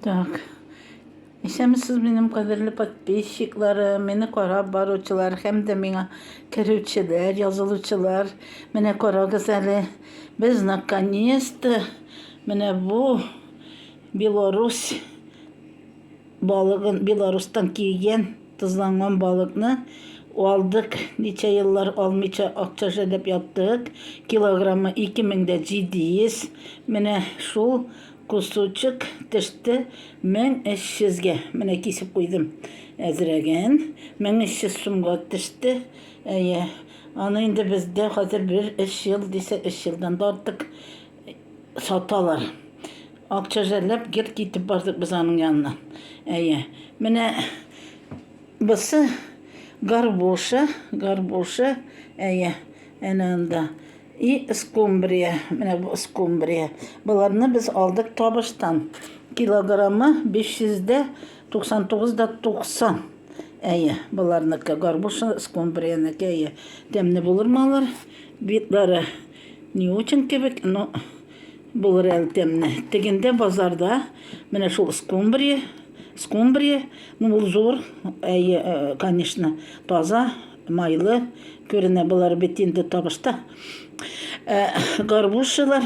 Так. Исәмсез минем кадерле подписчикларым, мине карап баручылар һәм дә миңа керүчеләр, язылучылар. Менә карагыз әле, без наконец-то менә бу Беларусь балыгын, Беларустан килгән тозланган балыкны алдык. Ничә еллар алмыйча акча жәлләп яттык. Килограммы 2700. Менә шул Кусочек төште 1300 гә. Менә кисеп куйдым. Әзрәген. 1300 сумга төште. Әйе. Аны инде бездә хәзер бер эш ел дисә, эш елдан да артык саталар. Акча жәлләп гел китеп бардык без аның янына. Әйе. Менә бусы горбуша, горбуша. Әйе. Әнә анда. И эскумбрия, менә бу эскумбрия. Боларны без алдык табыштан. Килограммы 500 дә 99 да 90. Әйе, боларныкы горбуша эскумбриянеке әйе. Тәмне булыр малар. Битлары не очень кебек, но булыр әле тәмне. Тегендә базарда менә шул эскумбрия, эскумбрия, ну ул зур, әйе, э, конечно, таза Майлы күренә болар бит инде табышта. Ә, горбушилар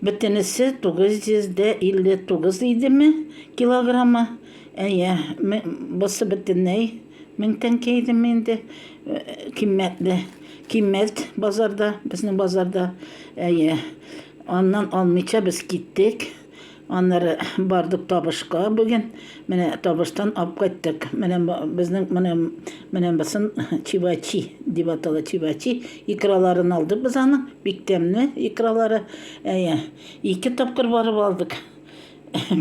бөтенесе 959 идеме килограммы. Әйе, бусы бөтенләй 1000 тәңкә идеме инде. Э, киммәтле, киммәт базарда, безнең базарда. Әйе, аннан алмыйча без киттек. Аннары бардык табышка бүген. Менә табыштан алып кайттык. Менә безнең менә менә басын чивачи дип атала чивачи. Икраларын алдык без аны. Бик тәмле икралары. Әйе. Ике тапкыр барып алдык.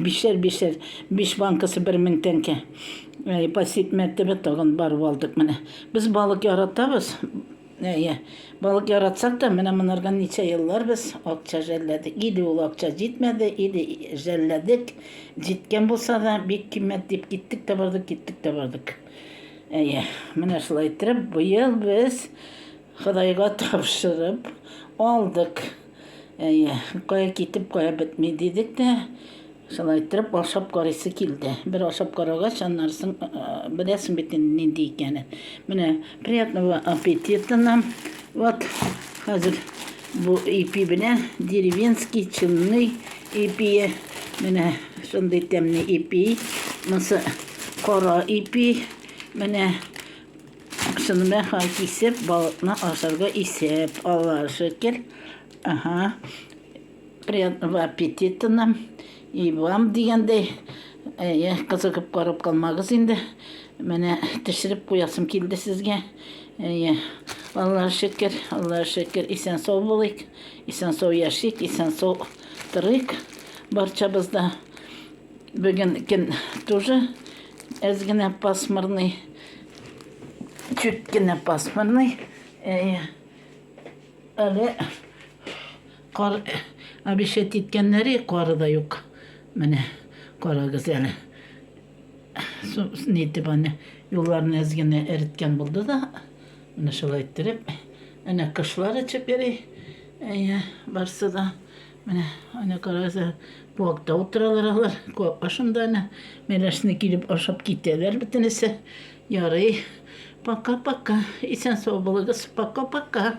Бишәр бишәр. Биш банкасы 1000 тәңкә. Әйе, пасит мәртәбә тагын барып алдык менә. Без балык яратабыз. Әйе. Балык яратсак та, менә монарга ничә еллар без акча жәлләдек. Или ул акча җитмәде, или жәлләдек. Җиткән булса да, бик киммәт дип киттек тә бардык, киттек тә бардык. Әйе, менә шулай иттереп, быел без Ходайга тапшырып алдык. Әйе, кая китеп, кая бетми дидек тә, шулай иттереп ашап карыйсы килде. Бер ашап карагач, аннан соң беләсең бит инде нинди икәнен. Менә приятного аппетита нам. Вот хәзер бу ипи белән деревенский чынный ипие. Менә шундый тәмле ипи. Монысы кара ипи. Менә Аксынмә хан кисеп, балыкны ашарга исәп ала. Шөкер, аһа, приятного аппетита нам и вам дигәндәй, әйе, кызыгып карап калмагыз инде. Менә төшереп куясым килде сезгә. Әйе, Аллаһ шөкер, Аллаһ шөкер, исән сау булыйк, исән сау яшик, исән сау торыйк барчабыз да. Бүген көн тоже әз генә пасмурный, чуть кенә пасмурный. Әйе. Әле кар обещать иткәннәре кары да юк. Менә карагыз әле. Нитеп аны юлларны әз генә эреткән булды да, менә шулай иттереп, әнә кошлар очып йөри. Әйе, барсы да. Менә аны карагыз, куакта утыралар алар. Куак башында аны мәрәшне килеп ашап китәләр бөтенесе. Ярый. Пока-пока. Исән-сау булыгыз. Пока-пока.